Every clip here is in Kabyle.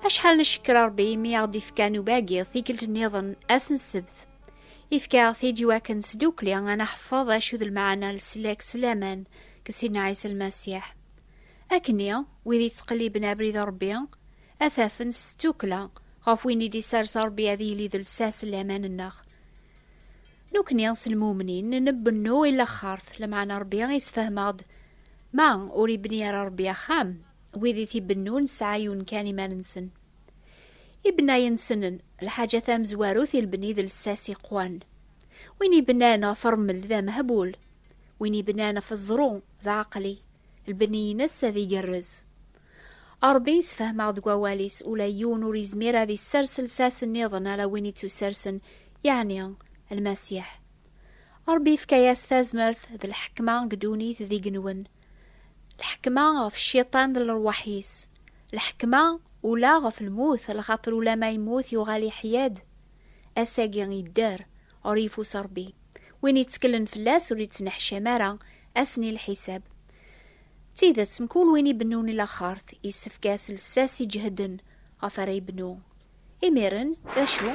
Acḥal ncekker Ṛebbi imi i aɣ-d-ifka nubagi tikkelt nniḍen ass n ssebt. Ifka-aɣ-t-id iwakken sdukli ad neḥfeḍ acu d lmeɛna n leslak s laman deg Sidna Ɛisa Lmasiḥ. Akkenni, wid yettqelliben abrid n Ṛebbi, ad t-afen s tddukkla ɣef win i d-isers Ṛebbi ad yili d lsas n laman-nneɣ. Nukni s lmumnin nbennu i laxert, lameɛna Ṛebbi yessefhem-aɣ-d, Ma ur ibni ara Ṛebbi axxam, Wid i t-ibennun sɛayun kan iman-nsen. Ibennayen-nsenen, lḥaǧa tamezwarut i lebni d lsas iqwan. Win ibennan ɣef remmel d amehbul, win ibennan ɣef ẓẓru d aɛeqli, lbenni-ines ad igerrez. Ṛebbi yessefhem-aɣ deg wawal-is, ula yiwen ur yezmir ad issers lsas nniḍen ala win i tt-ussersen, yeɛni Lmasiḥ. Ṛebbi yefka-yas tazmert d lḥekma deg ddunit d igenwen. Lḥekma ɣef cciṭan d lerwaḥ-is. Lḥekma ula ɣef lmut, lxaṭer ulama yemmut yuɣal iḥya-d, ass-agi yedder, ɣer yifus Rebbi. Win yetteklen fell-as ur yettneḥcam ara ass n lḥisab. D tidet, mkul win ibennun i laxert, yessefk-as lsas iǧehden ɣef ara yebnu. Imiren, d acu?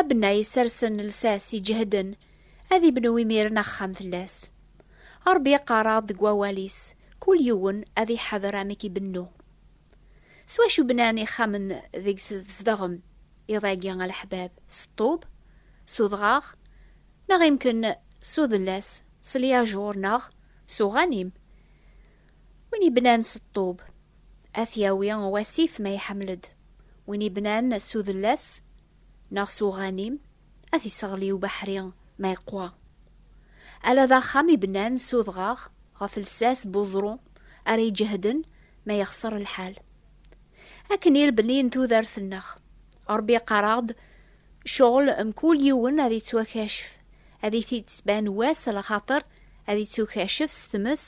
Abna yessersen lsas iǧehden ad ibnu imiren axxam fell-as. Ṛebbi iqqar-aɣ-d deg wawal-is, kul yiwen ad iḥader amek ibennu. S wacu bnan ixxamen deg-s tzedɣem iḍ-agi a leḥbab? S ṭṭub? S udɣaɣ? Neɣ imken s udellas, s lyajuṛ neɣ s uɣanim? Win yebnan s ṭṭub, ad t-yawi wasif ma iḥemmel-d. Win yebnan s udellas neɣ s uɣanim, ad t-isseɣli ubeḥri ma iqwa. Ala d axxam ibnan s udɣaɣ ɣef lsas n uẓru ara iǧehden ma yexṣer lḥal. Akken i lebni n tudert-nneɣ, Ṛebbi iqqar-aɣ-d cɣel mkul yiwen ad ittwakacef, ad it-id-tban wass lxaṭer ad ittukacef s tmes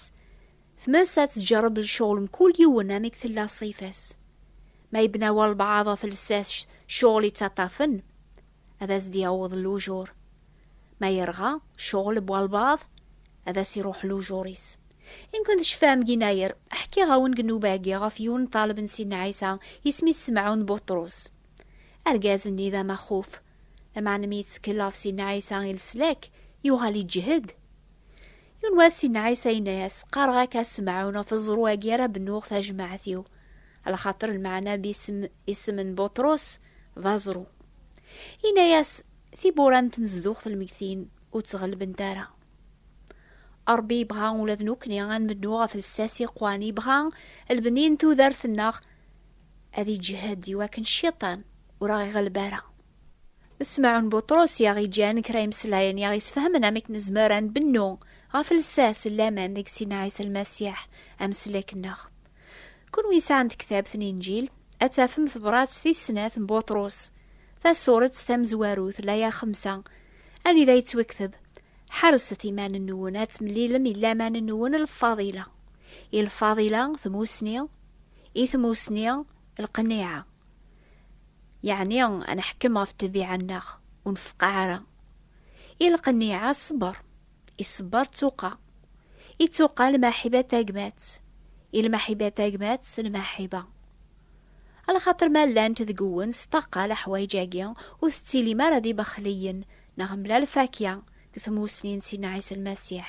Tmasa tettjeṛṛeb lecɣel n kul yiwen amek tella ṣṣifa-s. Ma yebna walebɛaḍ ɣef lsas ccɣel yettaṭṭafen, ad as-d-yaweḍ lujur. Ma yerɣa ccɣel n walebɛaḍ, ad as-iṛuḥ lujur-is. Imken tecfam ginayer, ḥkiɣ-awen deg nnuba-agi ɣef yiwen n ṭṭaleb n Sidna Ɛisa, isem-is Semɛun Buṭrus. Argaz-nni d amaxuf. Lameɛna mi yettkellaf Sidna Ɛisa i leslak, yuɣal iǧhed. Yiwen wass Sidna Ɛisa yenna-yas, Qqareɣ-ak a Semɛun ɣef ẓẓru-agi ara bennuɣ tajmaɛt-iw, alaxaṭer lmeɛna bisem isem n Buṭrus d aẓru. Yenna-yas, Tiwwura n tmezduɣt lmegtin ur tt-ɣellbent ara. Ṛebbi yebɣa ula d nekkni ad nbennu ɣef lsas yeqwan, yebɣa lbni n tudert-nneɣ ad iǧehhed iwakken cciṭan ur aɣ-iɣleb ara. D Smaɛun Buṭrus i aɣ-iǧǧan kra imeslayen i aɣ-isfehmen amek nezmer ad nbennu ɣef lsas n laman deg Sina Ɛisa Lmasiḥ, ameslek-nneɣ. Kunwi yesɛan tektabt n Inǧil, ad tafem tebṛat tis snat n Buṭrus, tasuret tamezwarut, laya xemsa, anida yettwekteb, Ḥerset iman-nwen ad temlilem i laman-nwen lfadila, i lfadila, tmusni, I tmusni, lqniɛa. Yeɛni ad neḥkem ɣef ṭṭbiɛa-nneɣ, ur nfeqqa ara. I lqniɛa, ṣṣber. I ṣṣber, ttuqa. I ttuqa, lmaḥiba tagmat. I lmaḥiba tagmat, lmaḥiba. Alaxaṭer ma llant deg-wen s ṭṭaqa leḥwayeǧ-agi, ur tettilim ara d ibexliyen neɣ mlal fakya deg tmusni n Sidna Ɛisa Lmasiḥ.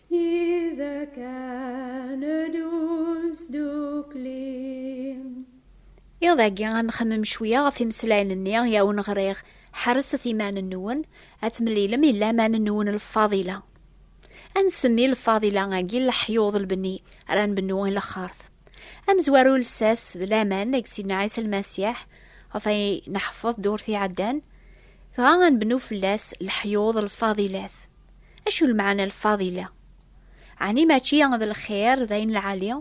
Iḍ agi ad nxemmem cwiya ɣef imeslayen-nni i awen-ɣriɣ, ḥerset iman-nwen, ad temlilem i laman-nwen lfadila. Ad nsemmi lfadila agi leḥyuḍ lbenni ara nbennu i lexxart. Amezwaru lsas d laman deg Sidna Ɛisa Lmasiḥ, ɣef ay neḥfeḍ ddurt iɛeddan, dɣa ad nbennu fell-as leḥyuḍ lfadilat. Acu lmeɛna lfadila? Ɛni mačči d lxir d ayen lɛali?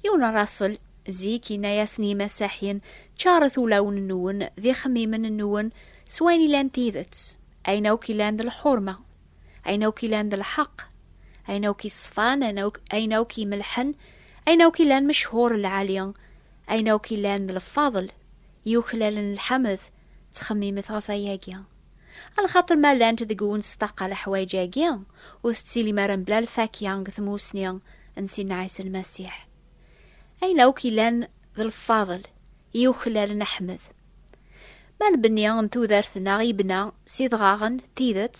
Yiwen n Raṣel zik yenna-yasen yimasaḥyen, Ččaret ulawen-nwen d ixemmimen-nwen s wayen ilan d tidet, ayen akk ilan d lḥurma, ayen akk ilan d lḥeqq, ayen akk iṣfan, ayen akk imelḥen, ayen akk ilan mechur lɛali, ayen akk ilan d lfadel, yuklalen lḥamed, Ttxemmimet ɣef wayagi. A lxaṭer ma llant deg-wen ssṭaqa leḥwayeǧ-agi, ur tettilim ara mebla lfakya deg tmusni n Sidna Ɛisa Lmasiḥ. Ayen akk yellan d lfaḍel i yuklalen Aḥmed. Ma lbenni n tudert-nneɣ yebna s idɣaɣen, d tidet,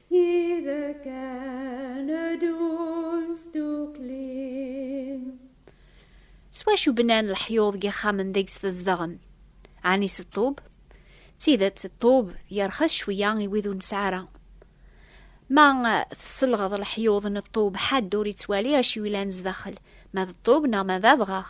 S wacu bnan leḥyuḍ n yixxamen deg-s tzedɣem? Ɛni s ṭṭub? D tidet, ṭṭub yerxes cwiya i wid ur nesɛi ara. Ma tselɣeḍ leḥyuḍ n ṭṭub, ḥedd ur yettwali acu yellan sdaxel, ma d ṭṭub neɣ ma d abɣax.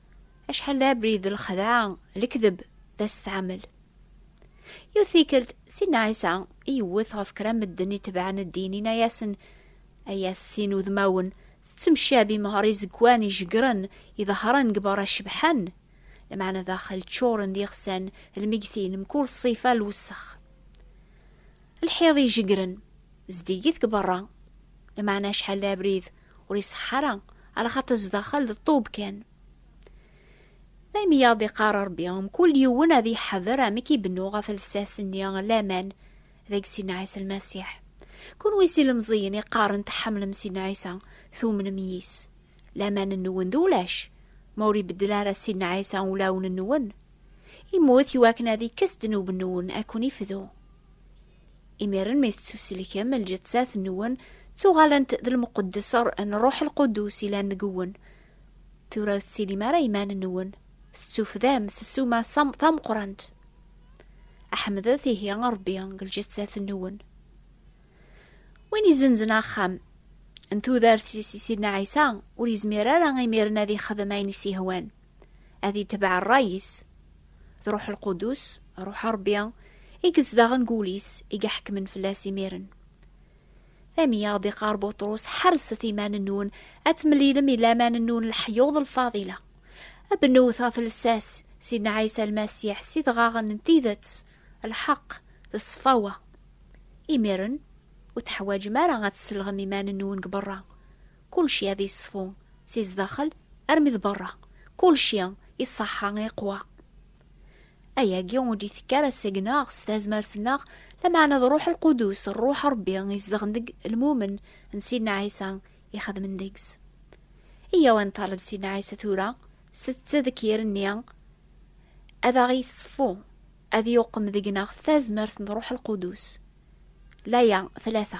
Acḥal d abrid, lxedɛa, lekdeb, d asetɛamel. Yiwet tikkelt, Sidna Ɛisa yewwet ɣef kra medden itebɛen ddin, yenna-yasen, Ay at sin udmawen, tettemcabim ɣer izegwan ijeggren, iḍehren deg berra cebḥen, lmeɛna daxel ččuren d iɣsan, lmegtin, mkul ṣṣifa, lwessex. Lḥiḍ ijeggren, zeddigit deg berra, lmeɛna acḥal d abrid, ur iṣeḥ ara ala xaṭi zdaxel d ṭub kan daymi yaɣ d-iqar rebbi mkul yiwen ad iḥader amek i bennu ɣef lsas nni laman deg sidna ɛisa lmasiḥ kunwi si lemẓiyen iqaren tḥamlem sidna ɛisa tumnem yis laman nwen d ulac ma ur ibeddel ara sidna ɛisa ulawen nwen imut iwakken ad ikkes ddnub nwen akun ifdu Imiren mi tettuselkem lǧettat nwen, ttuɣalent d lmuqeddeser n Rruḥ Lqudus ilan deg-wen. Tura ur tettilim ara iman nwen, tettufdam s ssuma tameqrant. Aḥemdet ihi Rebbi deg lǧettat nwen. Win izenzen axxam n tudert-is i Sidna Ɛisa, ur yezmir ara imiren ad ixdem ayen i s-yehwan. ad itbeɛ ṛṛay-is, d Ṛuḥ Lqudus, Ṛuḥ Ṛebbi, i yezdaɣen deg wul-is, i iḥekmen fell-as imiren. Daymi i ɣ-d-iqqar Buṭrus, Ḥerset iman-nwen ad temlilem i laman-nwen n leḥyuḍ lfaḍila. Bnut ɣef lsas Sidna Ɛisa Lmasiḥ s idɣaɣen n tidet, lḥeqq, d ṣṣfawa. Imiren, ur teḥwaǧem ara ad tesselɣem iman-nwen deg beṛṛa, Kulci ad yeṣfu si zdaxel armi d berra, kulci iṣaḥḥa iqwa. Ayagi ur d-itekki ara seg-neɣ, s tazmert-nneɣ, lameɛna d Ṛṛuḥ Lqudus, Ṛṛuḥ Ṛebbi izedɣen deg lmumen n Sidna Ɛisa ixedmen deg-s. Iyyaw ad nṭaleb Sidna Ɛisa tura s ttdekkir-nni ad aɣ-iṣfu, ad yuqem deg-neɣ tazmert n Ṛṛuḥ Lqudus. Laya tlata.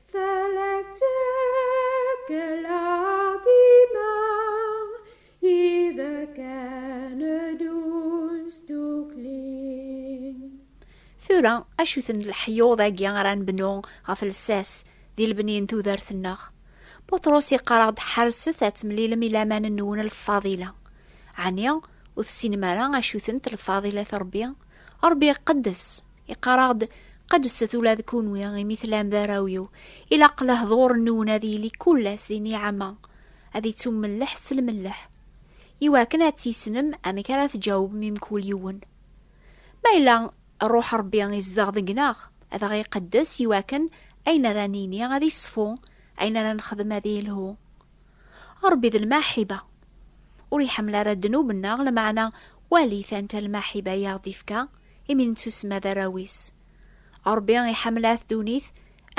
Tura, acu-ten leḥyuḍ-agi ara nbnu ɣef lsas di lebni n tudert-nneɣ? Buṭrus yeqqar-aɣ-d ḥerset ad temlilem ilaman-nwen lfadila. Ɛni ur tessinem ara acu-tent lfadilat Ṛebbi? Ṛebbi iqeddes, Iqaraɣ-d qedset ula d kunwi imi tlam d arraw-iw. Ilaq lehdur-nwen ad yili kullas di niɛama, ad ittummelleḥ s lmelleḥ. Iwakken ad tisnem amek ara tǧawbem i mkul yiwen. Ma yella Rruḥ Ṛebbi izdeɣ deg-neɣ, ad aɣ-iqeddes iwakken ayen ara nini ad iṣfu, ayen ara nexdem ad ilhu. Ṛebbi d lmaḥiba, ur iḥemmel ara ddnub-nneɣ, lameɛna walit anta lmaḥiba i aɣ-d-ifka imi nettusemma d arraw-is. Ṛebbi iḥemmel-at ddunit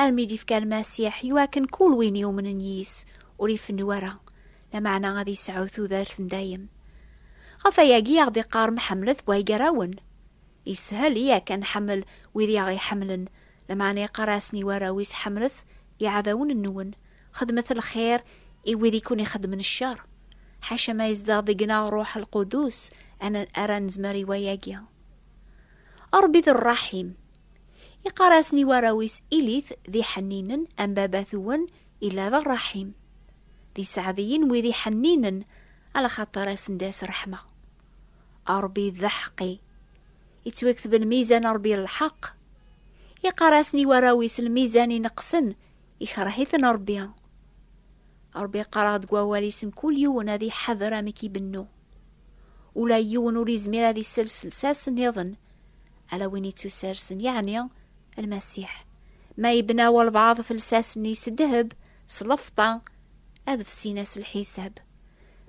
armi d-ifka Lmasiḥ i wakken kul win yumnen yis, ur ifennu ara, lameɛna ad isɛu tudert n dayem. Ɣef wayagi i aɣ-d-iqqarem ḥemmlet waygar-awen. Ishel i ak ad nḥemmel wid i aɣ-iḥemmlen, lameɛna iqqar-asen i warraw-is ḥemmlet iɛdawen-nwen. Xedmet lxir i wid i ken-ixedmen ccer. Ḥaca ma yezdeɣ deg-neɣ Rruḥ Lqudus ara nezmer i wayagi. Ṛebbi d Ṛṛaḥim. Iqqar-asen i warraw-is Ilit d iḥenninen am Baba-twen illa d Ṛṛaḥim. D iseɛdiyen wid iḥenninen alaxaṭer a sen-d-as ṛṛeḥma. Ṛebbi d Aḥeqqi. Ittwakteb lmizan Ṛebbi lḥeqq. Iqqar-asen i warraw-is lmizan ineqqsen Ikreh-iten Ṛebbi. Ṛebbi iqqar-aɣ deg wawal-is mkul yiwen ad iḥader amek ibennu. Ula yiwen ur izmir ad isels lsas nniḍen ala win ittusersen, yeɛni Lmasiḥ. Ma ibna walbaɛḍ ɣef lsas-nni s ddheb, s lefṭa, ad fsin-as lḥisab.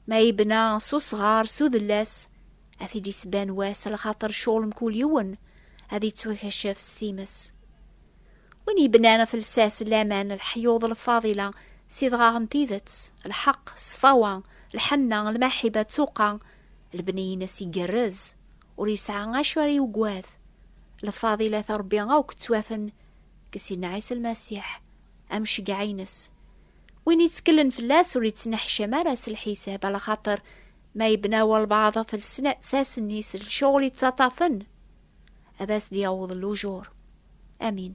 Ma ibna s usɣar, s udellas, ad t-id-isban wass, lxaṭer ccɣel mkul yiwen ad ittwakacef s times. Win yebnan ɣef lsas, laman, leḥyuḍ, lfadila, s idɣaɣ n tidet, lḥeqq, ṣṣfawa, lḥenna, lmaḥiba, ttuqa, lebni-ines igerrez, ur yesɛa acu ara yugwad. Lfadilat n Rebbi akk ttwafen deg Sidna Ɛisa Lmasiḥ, am ccegɛa-ines. Win yettkelen fell-as ur yettneḥcam ara s lḥisab, ala xaṭer ma yebna walbaɛḍ ɣef lsas-nni s lecɣal yettaṭṭafen, ad as-d-yaweḍ lujur. Amin.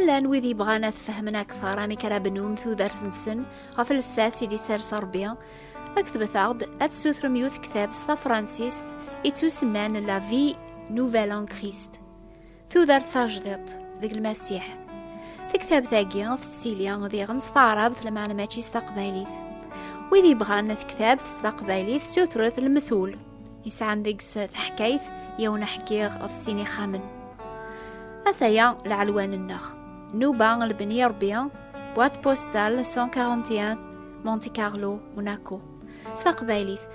llan wid yebɣan ad fehmen akteṛ amek ara bnun tudert-nsen ɣef lsas i d-isers Ṛebbi, aktbet-aɣ-d ad tessutrem yiwet ktab s tafransist i tusemman La Vie Nouvelle en Christ. Tudert tajdiḍt deg lmasiḥ. Tektabt-agi tettili d iɣen s taɛrabt lmeɛna mačči s taqbaylit. Wid yebɣan tektabt s taqbaylit sutret lmetul. Yesɛan deg-s taḥkayt yiwen aḥkiɣ ɣef sin ixxamen. Ataya lɛelwan-nneɣ. Nuba lbeni rebbi, boîte postale 141 Monte Carlo, Monaco. S taqbaylit,